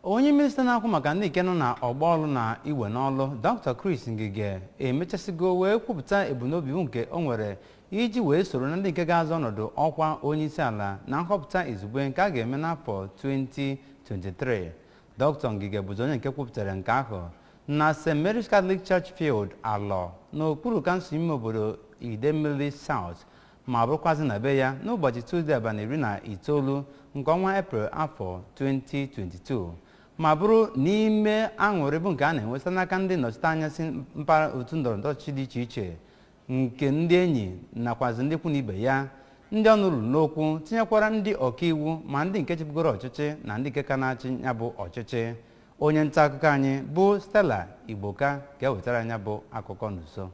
onye minista na-akwụ maka ndị nke nọ na ọgbọ ọlụ na iwe n'ọlụ dr chris ngige emechasịgo wee kwupụta ebumnobi nke o nwere iji wee soro na ndị nke ga-azọ ọnọdụ ọkwa onye isi ala na nhọpụta izugbe nke a ga-eme n'afọ 2023 dr ngige bụzi onye nke kwupụtara nke ahụ na st mary's catholic church field alọ n'okpuru kansụl ime obodo idemili south ma bụrụkwazị na be ya n'ụbọchị Tuzdee abalị iri na itoolu nke ọnwa Eprel afọ 2022 ma bụrụ n'ime aṅụrị bụ nke a na-enwe site n'aka ndị nnọchiteanya si mpaghara otu ndọrọndọrọ ọchịchị dị iche iche nke ndị enyi nakwazị ndị ikwu na ibe ya ndị ọnụ ruru n'okwu tinyekwara ndị ọkaiwu ma ndị nke chịbugoro ọchịchị na ndị nke ka na-achị ya bụ ọchịchị onye nta akụkọ anyị bụ Stella Igboka ga-ewetara anyị ya bụ akụkọ n'uso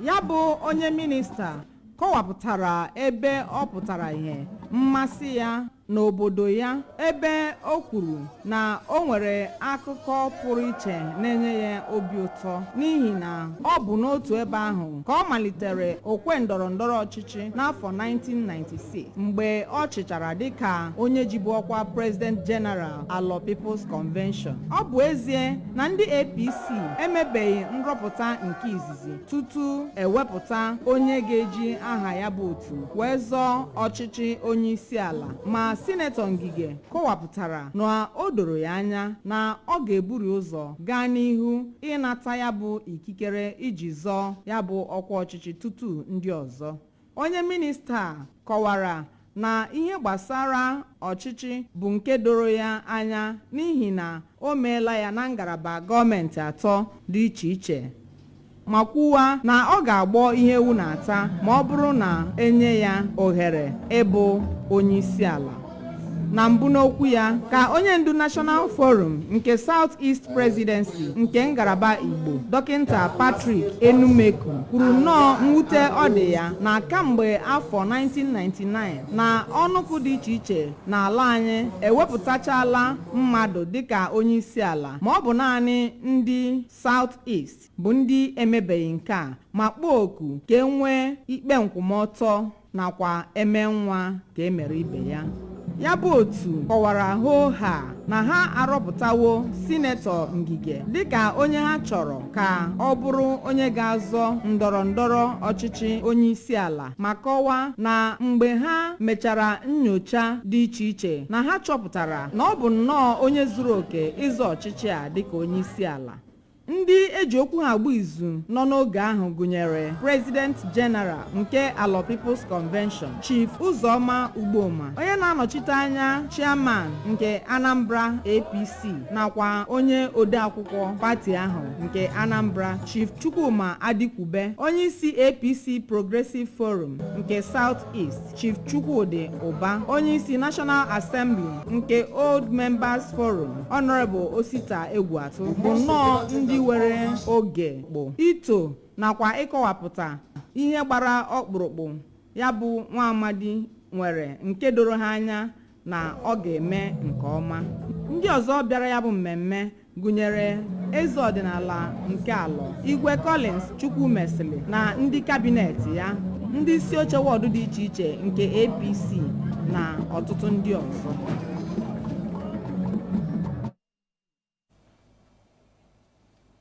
ya bụ onye minista kọwapụtara ebe ọ pụtara ihe mmasị ya n'obodo ya ebe o kwuru na o nwere akụkọ pụrụ iche na-enye ya obi ụtọ n'ihi na ọ bụ n'otu ebe ahụ ka ọ malitere okwe ndọrọ ndọrọ ọchịchị n'afọ 1996 mgbe ọ chịchara dịka onye jibu ọkwa president general Alọ People's Convention. Ọ bụ ezie na ndị APC emebeghị nrọpụta nke izizi tutu e wepụta onye ga-eji aha ya bụ otu wee zọọ ọchịchị onye isi ala ma sinetọ Ngige kọwapụtara na o doro ya anya na ọ ga-eburu ụzọ gaa n'ihu ịnata ya bụ ikikere iji zọọ ya bụ ọkwa ọchịchị tutu ndị ọzọ Onye minista kọwara na ihe gbasara ọchịchị bụ nke doro ya anya n'ihi na o meela ya na ngalaba gọọmenti atọ dị iche iche ma kwuwa na ọ ga-agbọ ihe ewu na-ata ma ọ bụrụ na e nye ya ohere ịbụ onyeisiala. na mbụ n'okwu ya ka onye ndu National Forum nke South East Presidency nke ngalaba Igbo dọkịnta Patrick Enumeku kwuru nnọọ mwute ọ dị ya na kamgbe afọ 1999 na ọnụkụ dị iche iche n'ala anyị ewepụtachala mmadụ dịka onye isi ala ma ọ bụ naanị ndị South East bụ ndị emebeghị nke a ma kpọọ oku ka e nwee ikpe nkwụmọtọ nakwa e mee nwa ka e mere ibe ya ya bụ otu kọwara hoo haa na ha arọpụtawo sinetọ ngige dịka onye ha chọrọ ka ọ bụrụ onye ga-azọ ndọrọ ndọrọ ọchịchị onye isi ala ma kọwaa na mgbe ha mechara nyocha dị iche iche na ha chọpụtara na ọ bụ nnọọ onye zuru oke ịzọ ọchịchị a dịka onye isi ala ndị eji okwu ha agba izu nọ n'oge ahụ gụnyere president general nke Alor People's Convention Chief Uzoma Ugboma onye na-anọchite anya chairman nke Anambra APC nakwa onye odeakwụkwọ pati ahụ nke Anambra Chief Chukwuma Adikwube onye isi APC Progressive Forum nke South East Chief Chukwudi Ụba onye isi National Assembly nke Old Members Forum Honorable Osita Egwuatu bụ nnọọ ndị were oge bụ ito nakwa ịkọwapụta ihe gbara ọkpụrụkpụ ya bụ nwa amadi nwere nke doro ha anya na ọ ga-eme nke ọma ndị ọzọ bịara ya bụ mmemme gụnyere eze ọdịnala nke Alor Igwe Collins Chukwumesili na ndị kabinet ya ndị isi oche wọdụ dị iche iche nke APC na ọtụtụ ndị ọzọ